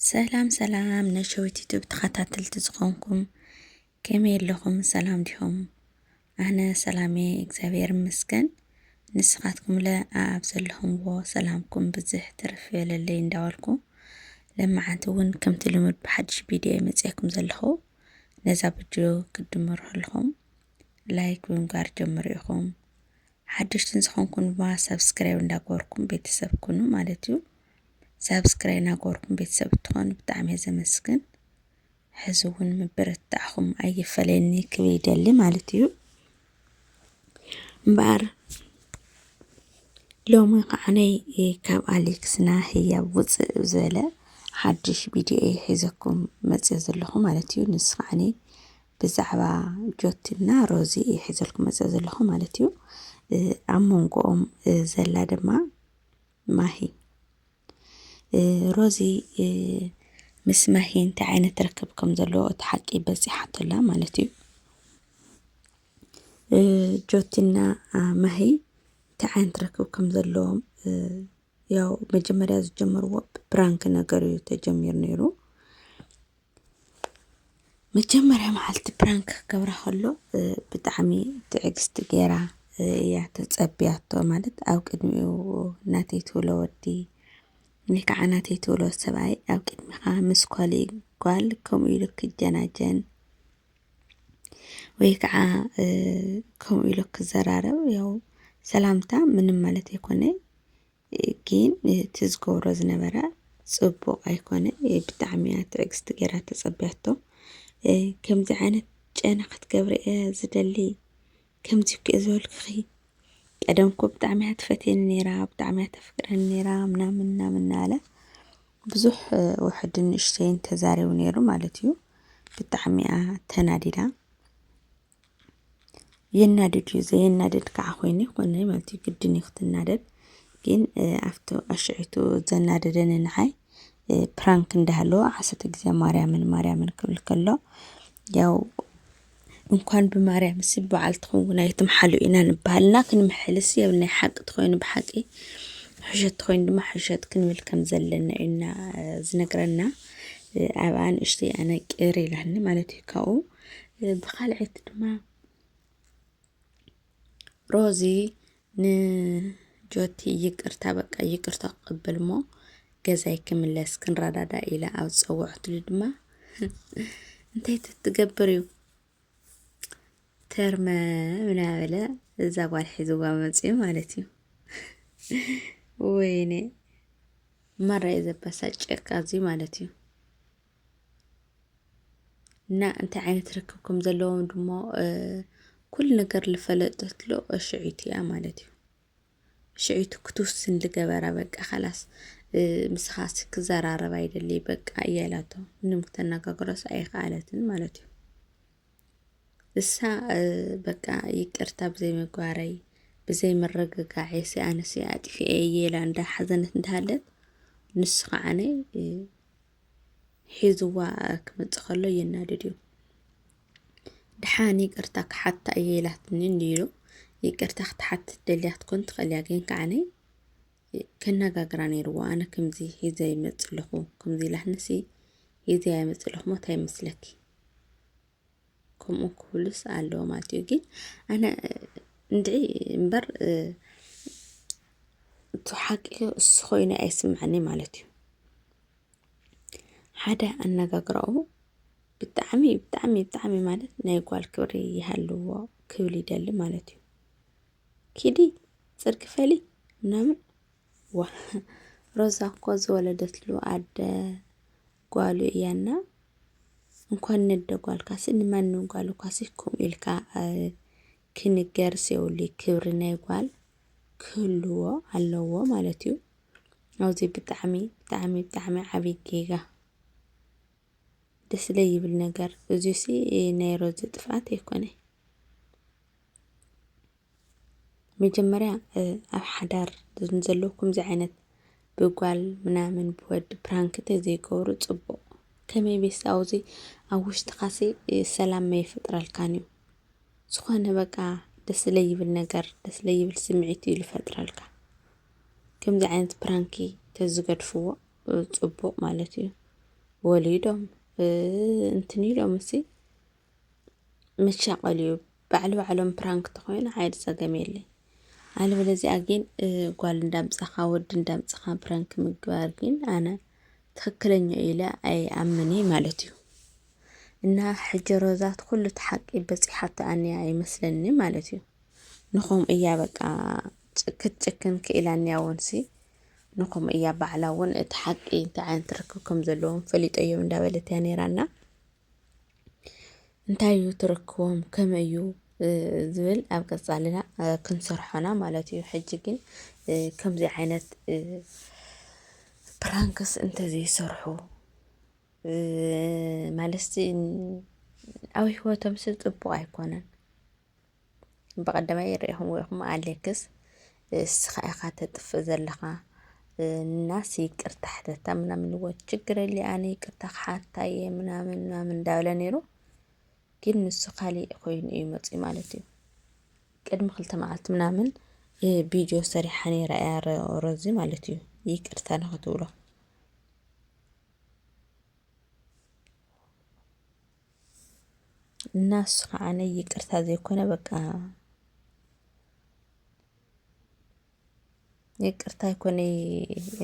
ሰላም ሰላም ነሸዊት ዩቱብ ተኸታተልቲ ዝኾንኩም ከመይ ኣለኹም ሰላም ዲኹም? ኣነ ሰላሜ እግዚኣብሔር ይመስገን። ንስኻትኩምለ ኣብ ዘለኹምዎ ሰላምኩም ብዝሕ ትርፍ የለለይ እንዳበልኩ ለመዓንቲ እውን ከምቲ ልሙድ ብሓድሽ ቪድዮ መፅያኩም ዘለኹ ነዛ ቪድዮ ክትድምሩ ኣለኹም ላይክ ብምግባር ጀምሩ ኢኹም ሓደሽትን ዝኾንኩም ድማ ሰብስክራይብ እንዳገበርኩም ቤተሰብ ኩኑ ማለት እዩ ሳብስክራይ ናገበርኩም ቤተሰብ እትኾኑ ብጣዕሚ እየ ዘመስግን። ሕዚ እውን ምብርታዕኹም ኣይፈለየኒ ክብል ይደሊ ማለት እዩ እምበኣር ሎሚ ከዓነይ ካብ ኣሌክስና ህያብ ውፅእ ዝበለ ሓድሽ ቪድዮ እየ ሒዘኩም መፅዮ ዘለኹ ማለት እዩ ንስ ከዓኒ ብዛዕባ ጆቲና ሮዚ እየ ሒዘልኩም መፅዮ ዘለኹ ማለት እዩ ኣብ መንጎኦም ዘላ ድማ ማሂ ሮዚ ምስ ማሂ እንታይ ዓይነት ርክብ ከም ዘለዎ እቲ ሓቂ በፂሓቶ ኣላ ማለት እዩ ጆቲና ማሂ እንታይ ዓይነት ርክብ ከም ዘለዎም ያው መጀመርያ ዝጀመርዎ ብፕራንክ ነገር እዩ ተጀሚሩ ነይሩ መጀመርያ መዓልቲ ፕራንክ ክገብራ ከሎ ብጣዕሚ ትዕግስቲ ገይራ እያ ተፀብያቶ ማለት ኣብ ቅድሚኡ ናተይ ትብሎ ወዲ ወይ ከዓ ናተይ ትብሎ ሰብኣይ ኣብ ቅድሚኻ ምስ ኳልእ ጓል ከምኡ ኢሉ ክጀናጀን ወይ ከዓ ከምኡ ኢሉ ክዘራረብ ያው ሰላምታ ምንም ማለት ኣይኮነ ግን እቲ ዝገብሮ ዝነበረ ጽቡቕ ኣይኮነ ብጣዕሚ እያ ትዕግስቲ ገይራ ተጸብያቶ ከምዚ ዓይነት ጨና ክትገብሪ እየ ዝደሊ ከምዚ እኮ እየ ዝበልክኺ ቀደም እኮ ብጣዕሚ እያ ትፈትየኒ ነይራ ብጣዕሚ እያ ተፍቅረኒ ነይራ ምናምን ምናምን እናበለ ብዙሕ ውሕድ ንእሽተይን ተዛሪቡ ነይሩ ማለት እዩ ብጣዕሚ እያ ተናዲዳ የናድድ እዩ ዘየናድድ ከዓ ኮይኑ ይኮነ ማለት እዩ ግድን እዩ ክትናደድ ግን ኣብቲ ኣሽዒቱ ዘናደደኒ ንዓይ ፕራንክ እንዳሃለወ ዓሰርተ ግዜ ማርያምን ማርያምን ክብል ከሎ ያው እንኳን ብማርያም ሲ በዓል ትኸውን ኣይትምሓሉ ኢና ንበሃልና ክንምሕልስ የብ ናይ ሓቂ ትኮይኑ ብሓቂ ሕሸት ትኮይኑ ድማ ሕሸት ክንብል ከም ዘለና እዩና ዝነግረና ኣብኣ ንእሽተይ ኣነ ቅር ኢላኒ ማለት እዩ ካብኡ ብካልዐይቲ ድማ ሮዚ ንጆቲ ይቅርታ በቃ ይቅርታ ቅብል እሞ ገዛይ ክምለስ ክንረዳዳ ኢለ ኣብ ዝፀወዐትሉ ድማ እንታይ ትትገብር እዩ ተርመ ምናበለ እዛ ጓል ሒዝዋ መፅኡ ማለት እዩ። ወይኔ መራ የዘበሳጨካ እዙይ ማለት እዩ። እና እንታይ ዓይነት ርክብ ከም ዘለዎም ድማ ኩሉ ነገር ዝፈለጠትሉ ሽዑይቲ እያ ማለት እዩ ሽዑይቲ ክትውስን ዝገበራ በቃ ካላስ ምስኻ ክዘራረብ ኣይደሊ በቃ እያ ኢላቶ ምንም ክተነጋግሮስ ኣይከኣለትን ማለት እዩ እሳ በቃ ይቅርታ ብዘይ ምግባረይ ብዘይ ምርግጋዕ ኣነሲ ኣጥፊኤ እየ ኢላ እንዳሓዘነት እንዳሃለት ንሱ ከዓነ ሒዝዋ ክመፅእ ከሎ የናድድ እዩ። ድሓን ይቅርታ ክሓታ እየ ኢላትኒ እንዲሉ ይቅርታ ክትሓት ደልያ ክትኮን ትኽእል እያ ግን ከዓነ ከነጋግራ ነይርዎ ኣነ ከምዚ ሂዘ ይመፅእ ኣለኹ ከምዚ ኢላትኒሲ ሂዘ ኣይመፅእ ኣለኹ ሞታ ይመስለኪ ከምኡ ክብሉስ ኣለዎ ማለት እዩ ግን ኣነ እንድዒ እምበር እቲ ሓቂ እሱ ኮይኑ ኣይስምዐኒ ማለት እዩ ሓደ ኣነጋግራኡ ብጣዕሚ ብጣዕሚ ብጣዕሚ ማለት ናይ ጓል ክብሪ ይሃልዎ ክብል ይደሊ ማለት እዩ ኪዲ ፅርጊ ፈሊ ምናምን ዋ ሮዛ እኮ ዝወለደትሉ ኣደ ጓሉ እያ እና እንኳን ነደ ጓልካሲ ንማንም ጓል እኳሲ ከምኡ ኢልካ ክንገርስ የብሉ ክብሪ ናይ ጓል ክህልዎ ኣለዎ ማለት እዩ ኣብዚ ብጣዕሚ ብጣዕሚ ብጣዕሚ ዓብዪ ጌጋ ደስ ዘይብል ነገር እዙሲ ናይ ሮዚ ጥፍኣት ኣይኮነይ መጀመርያ ኣብ ሓዳር ዘሎ ከምዚ ዓይነት ብጓል ምናምን ብወዲ ፕራንክ እንተዘይገብሩ ፅቡቕ ከመይ ቤት ኣብዙ ኣብ ውሽጥኻሲ ሰላም መይፈጥረልካን እዩ ዝኾነ በቃ ደስ ለይብል ነገር ደስ ለይብል ስምዒት እዩ ልፈጥረልካ ከምዚ ዓይነት ፕራንኪ ተዝገድፍዎ ፅቡቕ ማለት እዩ ወሊዶም እንትን ኢሎም እሲ መሻቐል እዩ ባዕሉ ባዕሎም ፕራንክ ተኾይኑ ዓይድ ጸገም የለይ ኣለበለዚኣ ግን ጓል እንዳምጻኻ ወዲ እንዳምጻኻ ፕራንክ ምግባር ግን ኣነ ትክክለኛ ኢለ ኣይ ኣምኒ ማለት እዩ እና ሕጂ ሮዛት ኩሉ ተሓቂ በጺሓቶ ኣንያ ይመስለኒ ማለት እዩ ንኹም እያ በቃ ክትጭክን ክኢላ ኣንያ ወንሲ ንኹም እያ ባዕላ እውን እቲ ሓቂ እንታይ ዓይነት ርክብ ከም ዘለዎም ፈሊጦ እዮም እንዳበለት እያ ነይራና እንታይ እዩ ትረክቦም ከመይ እዩ ዝብል ኣብ ቀፃልና ክንሰርሖና ማለት እዩ። ሕጂ ግን ከምዚ ዓይነት ፕራንክስ እንተዘይሰርሑ ማለትሲ ኣብ ሂወቶምሲ ፅቡቅ ኣይኮነን። ብቀዳማይ ይርኤኹምዎ ኢኹም ኣሌክስ እስኻ ኢኻ ተጥፍእ ዘለኻ እናስ ይቅርታ ሕተታ ምናምን ልዎ ችግር የለ ኣነ ይቅርታ ክሓታ እየ ምናምን ምናምን እንዳበለ ነይሩ ግን ንሱ ካሊእ ኮይኑ እዩ መፅኡ ማለት እዩ ቅድሚ ክልተ መዓልቲ ምናምን ቪድዮ ሰሪሓ ነይራ እያ ሮዚ ማለት እዩ ይቅርታ ንክትብሎ እና እሱ ከዓነ ይቅርታ ዘይኮነ በቃ ይቅርታ ይኮነ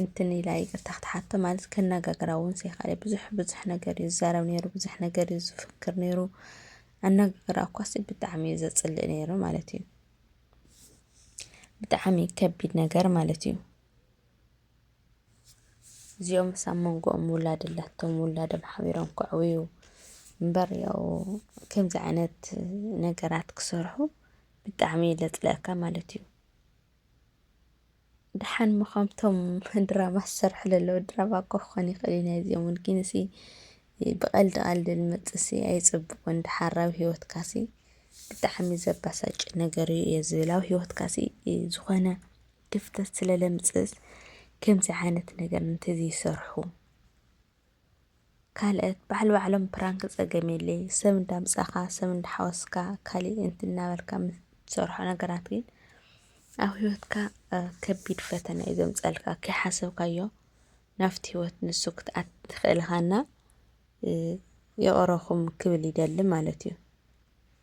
እንትን ኢላ ይቅርታ ክትሓቶ ማለት ከነጋግራ እውን ዘይካለ ብዙሕ ብዙሕ ነገር እዩ ዝዛረብ ነይሩ፣ ብዙሕ ነገር እዩ ዝፍክር ነይሩ። ኣነጋግራ እኳሲ ብጣዕሚ እዩ ዘፅልእ ነይሩ ማለት እዩ። ብጣዕሚ ከቢድ ነገር ማለት እዩ። እዚኦምስ ኣብ መንጎኦም ውላድ ኣላቶም ውላዶም ሓቢሮም ከዕብዩ እምበር ያው ከምዚ ዓይነት ነገራት ክሰርሑ ብጣዕሚ እዩ ለፅለኣካ ማለት እዩ። ደሓን እሞ ከምቶም ድራማ ዝሰርሑ ዘለዉ ድራማ እኮ ክኾን ይኽእል እዩ ናይ እዚኦም እውን ግን እሲ ብቐልዲ ቐልዲ ዝመፅእ ሲ ኣይፅቡቕን ደሓር ኣብ ሂወትካ ሲ ብጣዕሚ ዘበሳጭ ነገር እዩ እየ ዝብል ኣብ ሂወትካ ሲ ዝኾነ ክፍተት ስለ ለምጽእስ ከምዚ ዓይነት ነገር እንተዘይሰርሑ። ካልእት ባዕል ባዕሎም ፕራንክ ጸገም የለይ ሰብ እንዳምጻኻ ሰብ እንዳሓወስካ ካሊእ እንት እናበልካ ምትሰርሖ ነገራት ግን ኣብ ህይወትካ ከቢድ ፈተና እዩ ዘምጸልካ ከይሓሰብካዮ ናፍቲ ህይወት ንሱ ክትኣት ትኽእልኻና ይቕረኹም ክብል ይደሊ ማለት እዩ።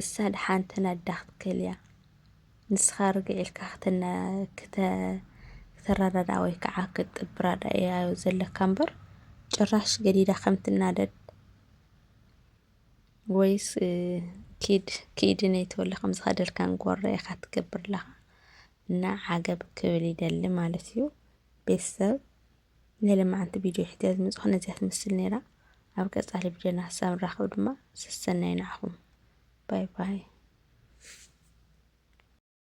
እሳ ደሓን ተናዳ ክትክእል እያ። ንስኻ ርግዕ ኢልካ ክተ ክተ ክተረዳዳእ ወይ ከዓ ክትጥብራዳ እያዮ ዘለካ እምበር ጭራሽ ገዲዳ ከም ትናደድ ወይስ ኪድ ኪድ ነይ ተወለ ከም ዝኸደልካን ጎረ ኢኻ ትገብር ኣለኻ እና ዓገብ ክብል ይደሊ ማለት እዩ ቤተሰብ ንልምዓንቲ ቪድዮ ሒተ ዝመጻኹ ነዚኣ ትመስል ነይራ። ኣብ ቀጻሊ ቪድዮና ክሳብ ንራኸብ ድማ ሰሰናዩ ንዓኹም ባይ ባይ።